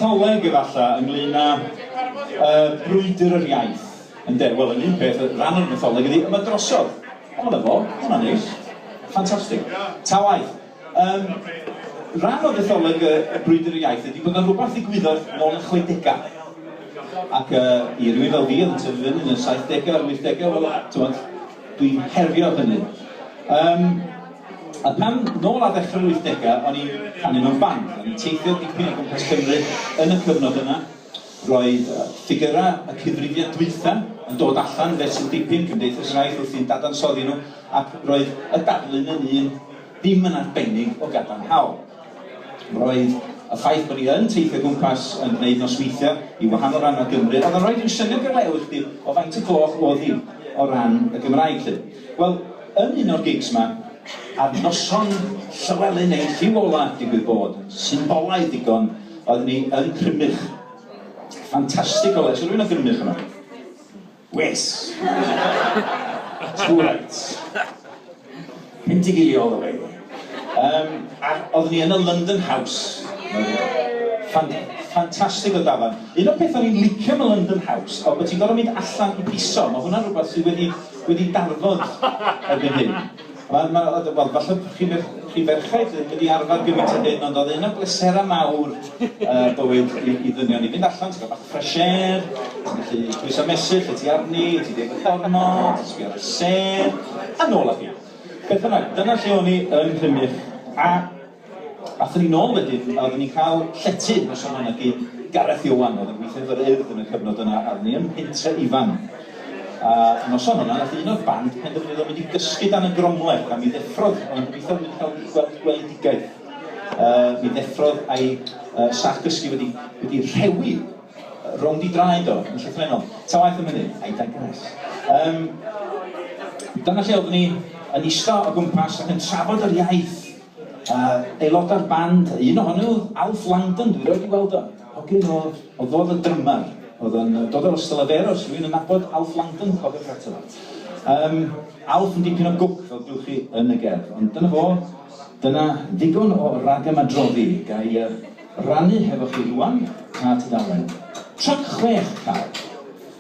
mytholeg efalla ynglyn â uh, brwydr yr iaith. Ynde, wel, yn un peth, rhan o'r mytholeg ydy, yma drosodd. Ond efo, hwnna'n neis. Ffantastig. Ta waith. Yn rhan o ddecholeg y Brwydr Iaith ydi bod 'na rwbath ddigwyddodd nôl yn y chwedegau. Ac yy i rywun fel fi oedd yn tyfu fyny yn y saithdegau a'r wythdegau, wel, t'mod, dwi'n herio hynny. Yym a pan, nôl ar ddechrau'r wythdegau, o'n i'n canu mewn band, o'n i'n teithio dipyn o gwmpas Cymru yn y cyfnod yna, Roedd ffigyrau y cyfrifiad dwytha yn dod allan fe sy'n dipyn Cymdeithas yr Iaith wrthi'n dadansoddi nhw ac roedd y darlun yn un ddim yn arbennig o gadarnhaol. Roedd y ffaith bod ni yn teithio gwmpas yn gwneud nosweithiau i wahanol rannau Gymru oedd yn rhoi rhyw syniad i'r lew i chdi o faint y gloch o'dd hi o ran y Gymraeg 'lly. Wel, yn un o'r gigs 'ma, ar noson Llywelyn ei lliw ola, digwydd bod, symbolaidd ddigon, oeddwn ni yn Crymych. Ffantastig o le. Oes 'na rywun o Gymrych yma? Wes! Too right. Pendigilio all the way. Um, a oeddwn ni yn y London House. Ffan ffantastig o dafarn. Un o'r pethau o'n i'n licio am y London House oedd bod ti'n gorfod mynd allan i piso. Mae hwnna'n rhywbeth sydd wedi wedi darfod erbyn hyn. Wel, ma', wel, wel, falle bo' chi fer- chi ferched ddim wedi arfer gymint â hyn, ond o'dd un o bleserau mawr yy bywyd i i ddynion i fynd allan, ti ga'l bach o fresh air, ti'n gallu pwyso mesur lle ti arni, ti'n deud y gornod, sbio ar y sêr, a nôl â chi. Beth bynnag, dyna lle o'n i yn Rhymych, a Aethon ni nôl wedyn a oeddwn ni'n cael llety yn y Sir Fynegi, Gareth Ioan oedd yn gweithio efo'r Urdd yn y cyfnod yna a oeddwn ni yn pentre Ifan. A noson yna nath un o'r band penderfynu o mynd i gysgu dan y gromleth a mi ddeffrodd, oeddwn i'n gobeithio bod wedi cael gweld gweledigaeth, yy mi ddeffrodd a'i yy sac gysgu wedi wedi rhewi rownd i draed o yn llythrennol. Ta waeth am hynny, I digress. Yym dyna lle oeddwn ni yn ista o gwmpas ac yn trafod yr iaith. Yy aelodau'r band, un ohonyn nhw, Alf Langdon, dwi rioed 'di weld o. Hogyn o- oedd fo oedd y drymar, oedd o'n yy dod o'r Ystalyfera, os rywun yn nabod Alf Langdon, cofiwch eto. Yym, Alf yn dipyn o gwc, fel gewch chi yn y gerdd. Ond dyna fo, dyna ddigon o ragamadroddi. Ga i yy rannu hefo chi rŵan pa tudalen? Trac chwech, Cal.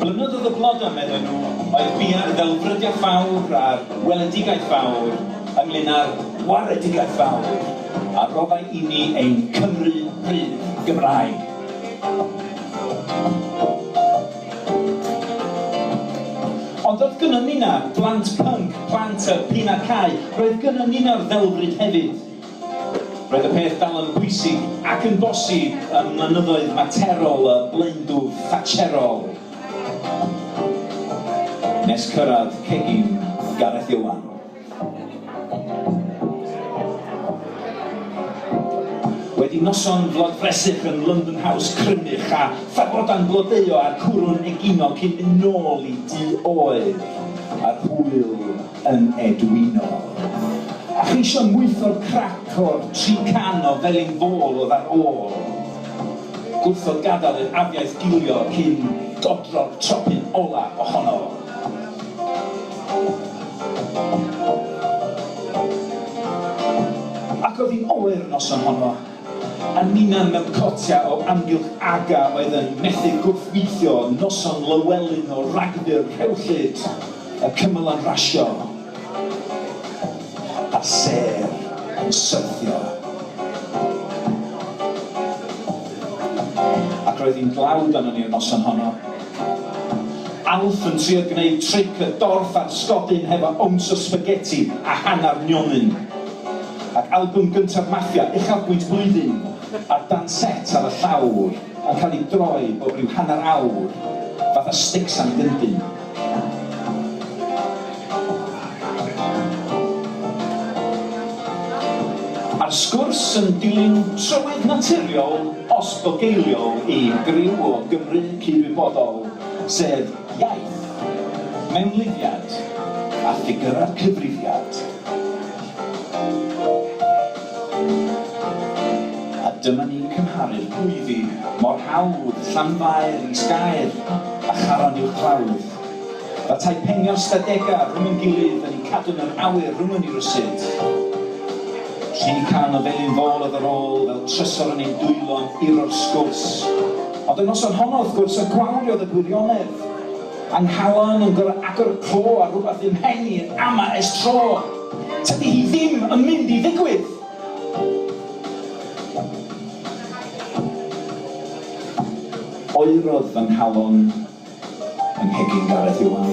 Blynyddoedd o blodau, medden nhw, oedd buan yn ddelfrydiaeth fawr a'r weledigaeth fawr ynglŷn â'r waredigaeth fawr a roddai inni ein Cymru rydd Gymraeg. Ond doedd gynnon ni 'na'r blant pync, plant y p'un a cau, roedd gynnon ni 'na'r ddelfryd hefyd. Roedd y peth dal yn bwysig ac yn bosib ym mlynyddoedd materol y blaendwf Thatcherol nes cyrraedd cegin Gareth Iwan. Wedi noson flodfresych yn London House crymych a phagoda'n blodeuo a'r cwrw'n egino cyn mynd nôl i du oedd ar hwyl yn edwino. A cheisio mwytho'r crac o'r tri can o felin fôl oedd ar ôl. Gwrthod gadael i'r afiaith gilio cyn dodro'r tropyn ola ohono. Ac oedd hi'n oer y noson honno. A ninnau mewn cotiau o amgylch Aga oedd yn methu gwrthweithio noson Lywelyn o ragfyr rhewllyd y cymylau rasio a sêr yn syrthio. Ac roedd hi'n dlawd arnon ni'r noson honno. Alf yn trio gwneud tric y dorf a'r sgodyn hefo owns o sbageti a hanner nionyn. Ac albwm gyntaf Mafia, uchafbwynt blwyddyn, a'r dan set ar y llawr yn cael ei droi bob rhyw hanner awr, fatha sticks am gyndyn. A'r sgwrs yn dilyn trywydd naturiol os bugeiliol i griw o Gymry cyd-wybodol, sef iaith, mewnlifiad a ffigyrau'r cyfrifiad. A dyma ni'n cymharu'r gweiddi mor hawdd, Llanfair, Is Gaer a Charon Uwchglawdd. Fel tai penio stadega rhwng yn gilydd yn eu cadw yn yr awyr rhwng yn i rysydd. Llu can o felin fôl oedd yr ôl fel trysor yn ein dwylo'n uro'r sgwrs. Ond y noson honno, wrth gwrs, y gwawriodd y gwirionedd. Yng nghalon yn gor'o' agor co ar rwbath fy mhen i yn ama' es tro. Tydi hi ddim yn mynd i ddigwydd! Oerodd fy nghalon yng nghegin Gareth Iwan.